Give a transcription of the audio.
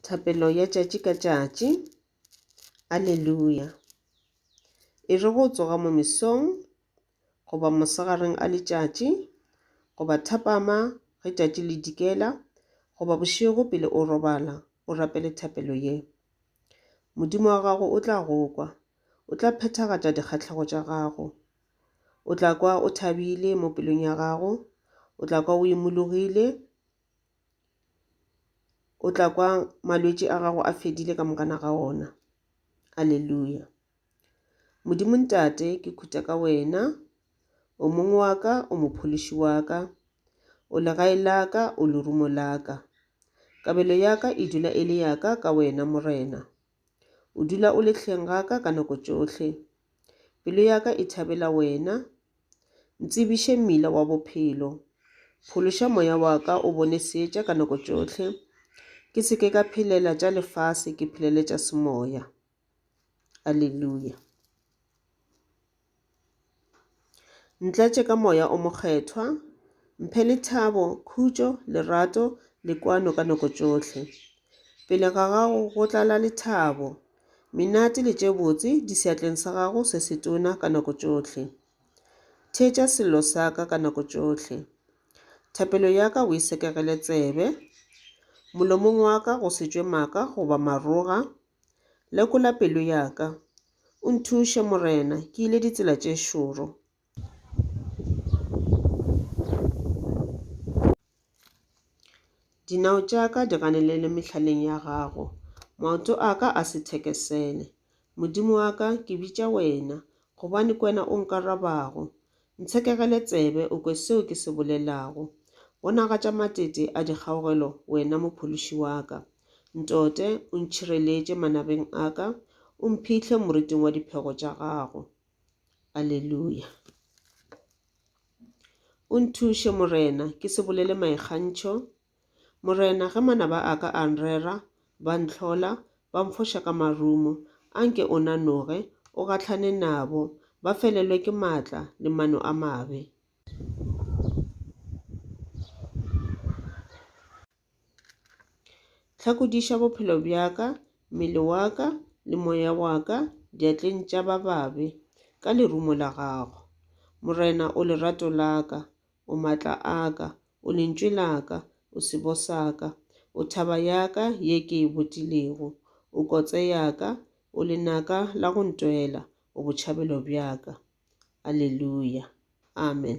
Thapelo ya tšatši ka tšatši. Aleluya! E re go tsoga mo mesong, goba mosegareng a letšatši, goba thapama ge tšatši le dikela, goba bošego pele o robala, o rapele thapelo ye. Modimo wa gago o tla go kwa. O tla phethagatša dikgahlego tša gago. O tla kwa o thabile mo pelong ya gago. O tla kwa o imologile. O tla kwa malwetši a gago a fedile ka mokana ga ona. Aleluya. Modimo ntate, ke khutha ka wena. O mong wa ka, o mophološi wa ka. O legae la ka, o lerumo la ka. Kabelo ya ka e dula e le ya ka ka wena, Morena. O dula o lehleng ga ka ka nako tšohle. Pelo ya ka e thabela wena, Ntsebiše mmila wa bophelo. Phološa moya wa ka o bone seetša ka nako tšohle, ke se ke ka phelela tša lefase, ke phelele tša semoya. Aleluya. Ntlatše ka moya o mokgethwa, mphe lethabo, khutšo, lerato le kwano ka nako tšohle. Pele ga gago go tlala lethabo, Menate le tše botse di seatleng sa gago se setona ka nako tšohle. Theetša sello sa ka ka nako tšohle. Thapelo ya ka o e sekegele tsebe. Molomong wa ka go se tšwe maaka goba maroga. Lekola pelo ya ka. O nthuše, Morena, ke ile ditsela tše šoro. Dinao tša ka di ganelele mehlaleng ya gago, maoto a ka a se thekesele. Modimo wa ka, ke bitša wena, gobane ke wena o nkarabago. Ntshekegele tsebe o kwe seo ke se bolelago. Bonagatša matete a dikgaogelo wena mophološi wa ka. Ntote o ntšhireletše manabeng a ka, o mphihle moriting wa diphego tša gago. Aleluya. O nthuše, Morena, ke se bolele maikgantšho. Morena, ge manaba a ka a nrera, ba ntlhola, ba mfoša ka marumo, a nke o nanoge, o gahlane nabo, ba felelwe ke maatla le mano a mabe. Hlakodiša bophelo bja ka, mmele wa ka le moya wa ka diatleng tša ba babe ka lerumo la gago. Morena o lerato la ka, o matla a ka, o lentšwe la ka, o sebo sa ka, o thaba ya ka ye ke e botilego, o kotse ya ka, o lenaka la go ntwela, o botšhabelo bja ka. Aleluya. Amen.